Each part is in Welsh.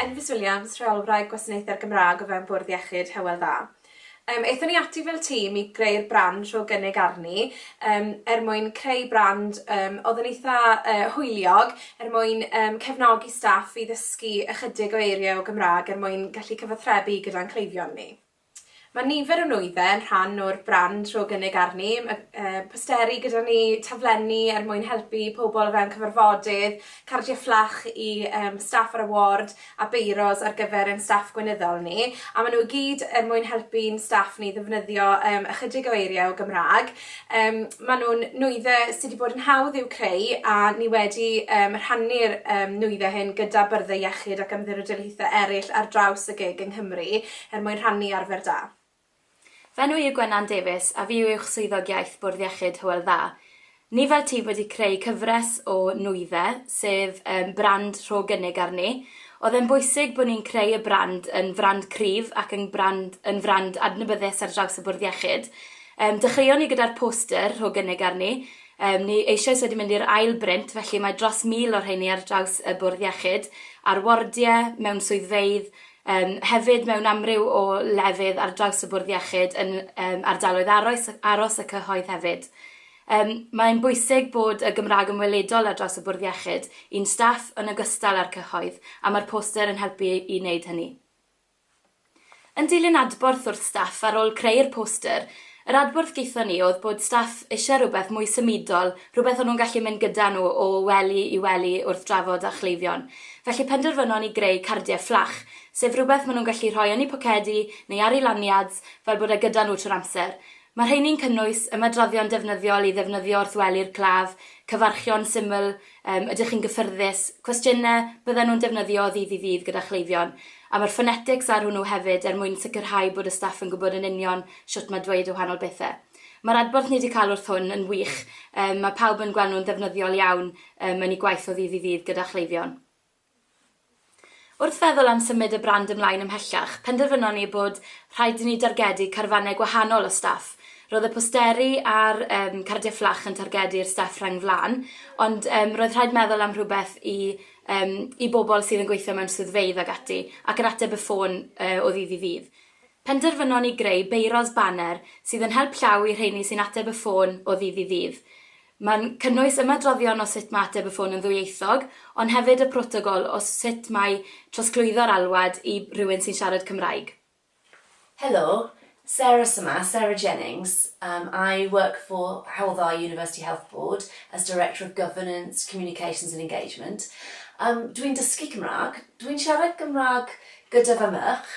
Enfys Williams, Rheolwraig Gwasanaethau'r Gymraeg o fewn Bwrdd Iechyd Hywel Dda. Yym, aethon ni ati fel tîm i greu'r brand rho gynnig arni, um, er mwyn creu brand um, oedd yn eitha uh, hwyliog, er mwyn um, cefnogi staff i ddysgu ychydig o eiriau o Gymraeg er mwyn gallu cyfathrebu gyda'n cleifion ni. Mae nifer o nwyddau yn rhan o'r brand Rho Gynnig Arni, mae posteri gyda ni, taflenni er mwyn helpu pobl o fewn cyfarfodydd, cardiau fflach i yym staff ar y ward a beiros ar gyfer ein staff gweinyddol ni, a maen nhw i gyd er mwyn helpu'n staff ni ddefnyddio yym ychydig o eiriau o Gymraeg. Yym maen nhw'n nwyddau sy' 'di bod yn hawdd i'w creu a ni wedi yym rhannu'r yym nwyddau hyn gyda byrddau iechyd ac ymddirydolaethau eraill ar draws y gig yng Nghymru. er mwyn rhannu arfer da. Fy enw yw Gwenan Davies a fi yw'ch Swyddog Iaith Bwrdd Iechyd Hywel Dda. Ni fel ti wedi creu cyfres o Nwydde, sef yym brand rho gynnig arni. Oedd e'n bwysig bod ni'n creu y brand yn frand cryf ac yn brand yn frand adnabyddus ar draws y Bwrdd Iechyd. Yym dechreuon ni gyda'r poster rho gynnig arni, yym ni eisoes wedi mynd i'r ail brint felly mae dros 1000 o rheiny ar draws y Bwrdd Iechyd, ar wardie, mewn swyddfeydd, Yym, hefyd mewn amryw o lefydd ar draws y Bwrdd Iechyd yn yym ardaloedd aroes aros y cyhoedd hefyd. Yym, mae'n bwysig bod y Gymraeg yn weledol ar draws y Bwrdd Iechyd, i'n staff yn ogystal â'r cyhoedd, a mae'r poster yn helpu i wneud hynny. Yn dilyn adborth wrth staff ar ôl creu'r poster, Yr adborth gaethon ni oedd bod staff eisiau rhywbeth mwy symudol, rhywbeth o'n nhw'n gallu mynd gyda nhw o wely i wely wrth drafod â chleifion. Felly penderfynon ni greu cardiau fflach, sef rhywbeth maen nhw'n gallu rhoi yn eu pocedi neu ar eu lanyards fel bod e gyda nhw trwy'r amser. Mae rheini'n cynnwys ymadroddion defnyddiol i ddefnyddio wrth wely'r claf, cyfarchion syml, Yym, ydych chi'n gyffyrddus? Cwestiynau byddan nhw'n defnyddio o ddydd i ddydd gyda chleifion. A mae'r phonetics ar hwnnw hefyd er mwyn sicrhau bod y staff yn gwybod yn union shwt mae dweud y wahanol bethau. Mae'r adborth ni 'di cael wrth hwn yn wych, yym, mae pawb yn gweld nhw'n ddefnyddiol iawn yym yn eu gwaith o ddydd i ddydd gyda chleifion. Wrth feddwl am symud y brand ymlaen ymhellach, penderfynon ni bod rhaid i ni dargedu carfannau gwahanol o staff. Roedd y posteri a'r yym cardiau fflach yn targedu'r staff rheng flaen, ond yym roedd rhaid meddwl am rhywbeth i yym i bobl sydd yn gweithio mewn swyddfeydd ac ati, ac yn ateb y ffôn yy o ddydd i ddydd. Penderfynon ni greu beiros baner sydd yn help llaw i rheiny sy'n ateb y ffôn o ddydd i ddydd. Mae'n cynnwys ymadroddion o sut mae ateb y ffôn yn ddwyieithog, ond hefyd y protocol o sut mae trosglwyddo'r alwad i rywun sy'n siarad Cymraeg. Helo, Sarah sy 'ma, Sarah Jennings. Umm I work for Hywel Dda University Health Board as Director of Governance, Communications and Engagement. Umm dwi'n dysgu Cymraeg. Dwi'n siarad Gymraeg gyda fy merch.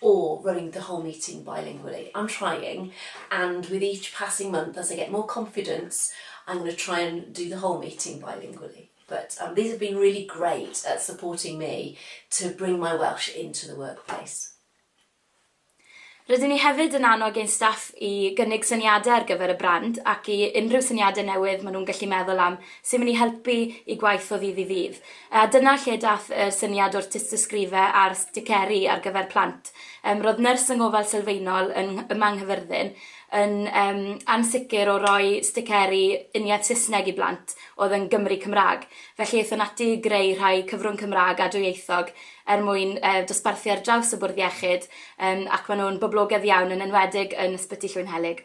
or running the whole meeting bilingually, I'm trying and with each passing month as I get more confidence I'm going to try and do the whole meeting bilingually but um, these have been really great at supporting me to bring my Welsh into the workplace. Rydyn ni hefyd yn annog ein staff i gynnig syniadau ar gyfer y brand ac i unrhyw syniadau newydd maen nhw'n gallu meddwl am sy'n mynd i helpu i gwaith o ddydd i ddydd. A dyna lle daeth y syniad o'r tystysgrife a'r sticeri ar gyfer plant. Yym ro'dd nyrs yng ngofal sylfaenol yng Ngh- yma yng Nghyfyrddin yn yym ansicr o roi sticeri uniaith Sysneg i blant o'dd yn Gymry Cymra'g, felly aethon ati i greu rhai cyfrwng Cymra'g a dwyieithog er mwyn yy dosbarthu ar draws y bwrdd iechyd yym ac ma' nw'n boblogedd iawn yn enwedig yn Ysbyty Llwynhelyg.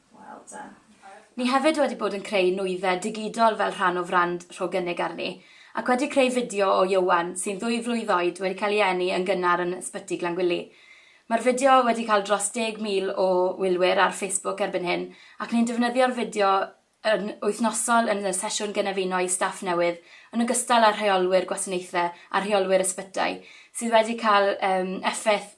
Wel da. Ni hefyd wedi bod yn creu nwyddau digidol fel rhan o frand Rho Gynnig Arni, ac wedi creu fideo o Ieuan, sy'n ddwy flwydd oed, wedi cael ei eni yn gynnar yn Ysbyty Glangwili. Mae'r fideo wedi cael dros 10,000 o wylwyr ar Facebook erbyn hyn, ac ni'n defnyddio'r fideo yn wythnosol yn y sesiwn gynefino i staff newydd, yn ogystal â rheolwyr gwasanaethau a rheolwyr ysbytai, sydd wedi cael effaith